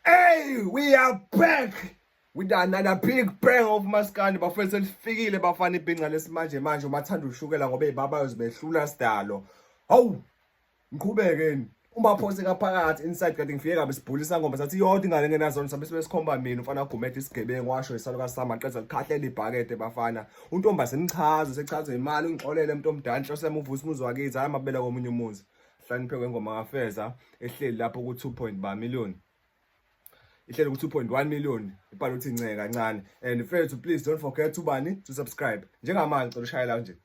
Hey, we are back with another big bang of maskandi bafethu selifikile bafana ibhinca lesimanje manje umathanda ushukela ngoba ibaba yozibehlula sidalo hawu ngiqhubekeni uma phose kaphakathi inside kanti ngifike kabe sibhulisa ngoma sathi yodwa ingane ngenazona sabe sikhomba mina ufana ugumede isigebengu washo isaluka sama qeza likhahlela ibhakede bafana untombaze imchazo sechazo imali ungixolele umuntu omdala inhloso yami uvusa umuzi wakithi hayi amabela komunye umuzi Hlanipheko wengoma kaFeza ehleli lapho ku-2.1 ba million ihleli ku-2.1 million ibhala ukuthi nceka kancane and fethu please don't forget to bani to subscribe njengamanje cela ushayela nje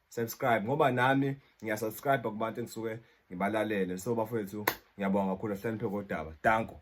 subscribe ngoba nami ngiyasubscribe kubantu engisuke ngibalalele so bafethu ngiyabonga kakhulu hlanipheko kodaba danko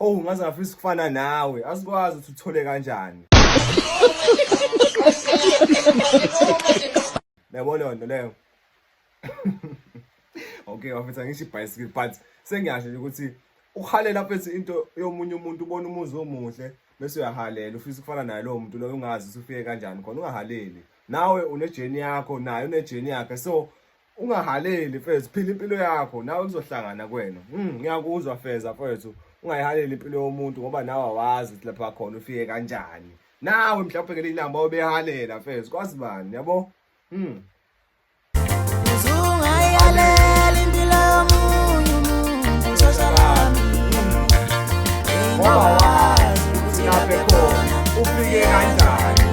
Oh ngaze ngafisa ukufana nawe. Asikwazi ukuthi uthole kanjani. Yabo leyo nto leyo. Okay, wafetha ngisho ibhayisikili but sengiyasho nje ukuthi uhalela phethi into yomunye umuntu ubona umuzi omuhle bese uyahalela ufisa ukufana naye lowo muntu loyo ungazi usufike kanjani khona ungahaleli nawe unejeni yakho naye unejeni yakhe so ungahaleli mfethu phila impilo yakho nawe kuzohlangana kwena mm, ngiyakuzwa feza mfethu ungayihaleli impilo yomuntu ngoba nawe awazi ukuthi lapha khona ufike kanjani nawe mhlawumbe ngeli lamba obehalela mfethu kwazi bani yabo mm. ungayihaleli impilo yomuntu ushosha lami ngoba wazi ukuthi lapha khona ufike kanjani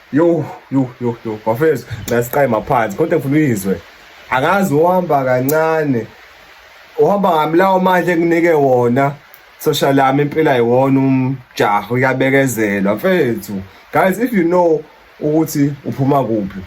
yo yo yo yo bafethu nasiqaye maphansi konke ngifuna uyizwe akazi uhamba kancane uhamba ngamlawo manje kunike wona social lami impela yiwona umjaho uyabekezelwa mfethu guys if you know ukuthi uphuma kuphi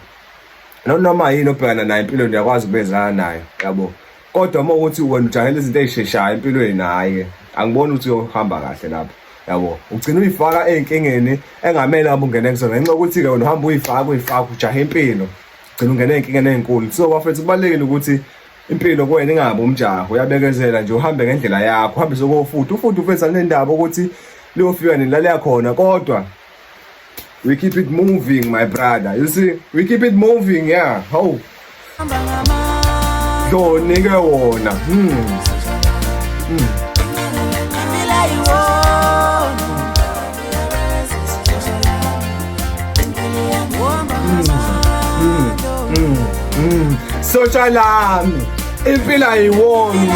noma yini obhekana nayo empilweni uyakwazi ukubezana nayo yabo kodwa uma ukuthi wena ujahela izinto ey'sheshayo empilweni hhayi angiboni ukuthi uyohamba kahle lapho yabo ugcina uyifaka ey'nkingeni engamele hamba ungene kuzona ngenxa yokuthi-ke wena uhamba uyifaka uyifaka ujahe impilo gcina ungene ey'nkingeni ey'nkulu so bafethu kubalulekile ukuthi impilo kuwena ingabi umjaho uyabekezela nje uhambe ngendlela yakho uhambe sokofuthi ufuthi ufethu anendaba ukuthi liyofika nini laleya khona kodwa We keep it moving my brother. You see, we keep it moving yeah. How? Yo nigga wona. Hmm. Hmm. sotsha lami impilo ayiwona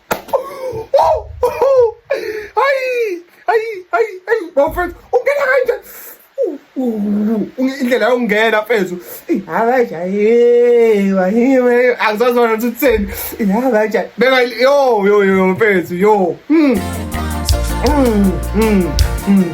hayi hayi hayi hayi bafethu ungena kanje indlela yokungena mfethu abajayiwa angizazona ukuthi utheni abajayi beka yo yo yo mfethu yo mm. Mm, mm, mm.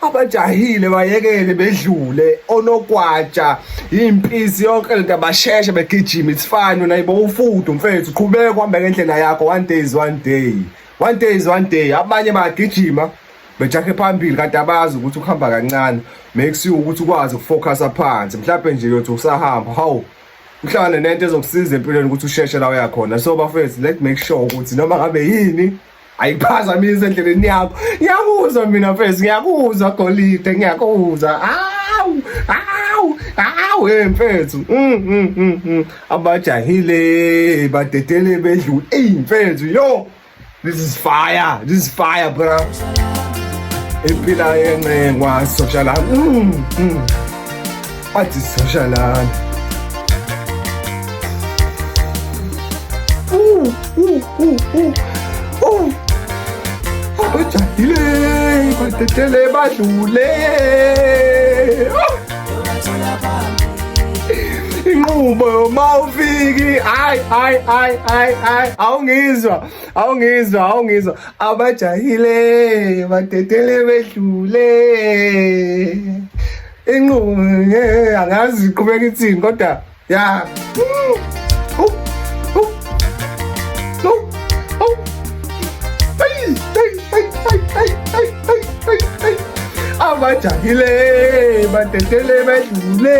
abajahile bayekele bedlule onokwatsha impisi yonke lento abasheshe begijima it's fine wena yibo ufudu mfethu qhubeka uhambeka endlela yakho one day is one day one day is one day abanye bagijima bejakhe phambili kanti abazi ukuthi ukuhamba kancane make sure ukuthi ukwazi ukufocusa phansi mhlawumbe nje yothi usahamba hawu uhlangane nento ezokusiza empilweni ukuthi usheshe la uyakhona so bafethu let make sure ukuthi noma ngabe yini ayiphazamise endleleni yakho ngiyakuzwa mina mfesi ngiyakuzwa golide ngiyakuzwa awu awu awu hey mfethu mm, mm, mm, abajahile badedele bedlule eyi mfethu yo this is fire this is fire bra impila yencengwa soshalamu Athi sisosha lana. Uh, uh, uh, uh. Uh. Abajahile, batetele badlule. Oh. inqubo yoma ufiki hayi hayi hayi hayi hayi awungizwa awungizwa awungizwa abajahile badedele bedlule inqubo nge angazi iqhubeka ithini kodwa ya abajahile batetele bedlule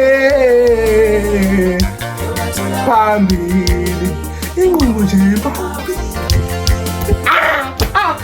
phambili inqubo nje phambili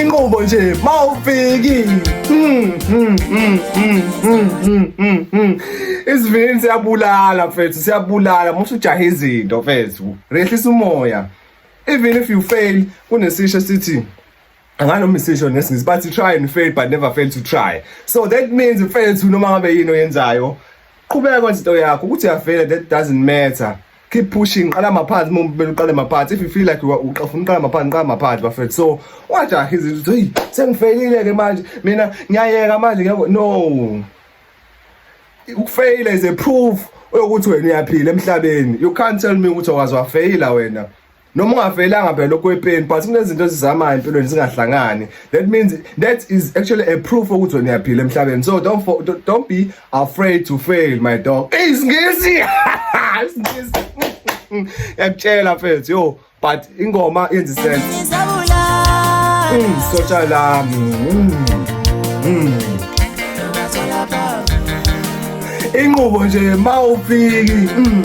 inqubo nje mawufiki hmm, hmm, hmm, isivinini siyabulala mfethu siyabulala musu ujahe izinto mfethu rehlisa umoya even if you fail kunesisho sithi anganoma isisho ngesingisi bathi try and fail but never fail to try so that means mfethu noma ngabe yini oyenzayo qhubeka kwenza into yakho ukuthi uyafela that doesn't matter keep pushing qala maphansi uma kumele uqale maphansi if you feel like uqafuna uqala maphansi qala maphansi bafethu so wajaha izinto hey sengifelile ke manje mina ngiyayeka manje ngeke no ukufeyila is a proof ukuthi wena uyaphila emhlabeni you can't tell me ukuthi awazwafeyila wena noma ungavelanga phela okwepeni but kunezinto ezizamayo empilweni zingahlangani that means that is actually a proof ukuthi wena uyaphila emhlabeni so don't for, don't be afraid to fail my dog isingisi isingisi yakutshela mfethu yo but ingoma yenza isense mm, sotsha lami mm, mm. inqubo nje mawufiki mm.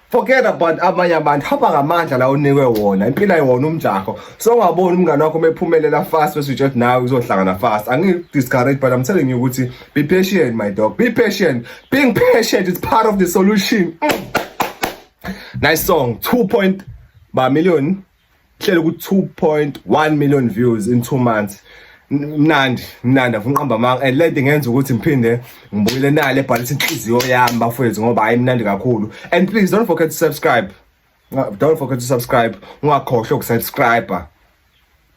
forget about amanye abantu hamba ngamandla la unikwe wona impilo ayiwona umjaho so ungaboni umngane wakho umephumelela fast bese uthi nawe uzohlangana fast angi discourage but i'm telling you ukuthi be patient my dog be patient being patient is part of the solution mm. nice song 2. ba million hlelo ku 2.1 million views in 2 months mnandi mnandi afuna uqamba amanga and lento ngenza ukuthi ngiphinde ngibuyele nale ebhalisa inhliziyo yami bafowethu ngoba hayi mnandi kakhulu and please don't forget to subscribe don't forget to subscribe ungakhohlwa ukusubscriber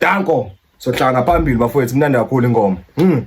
danko sohlanga phambili bafowethu mnandi kakhulu ingoma mm.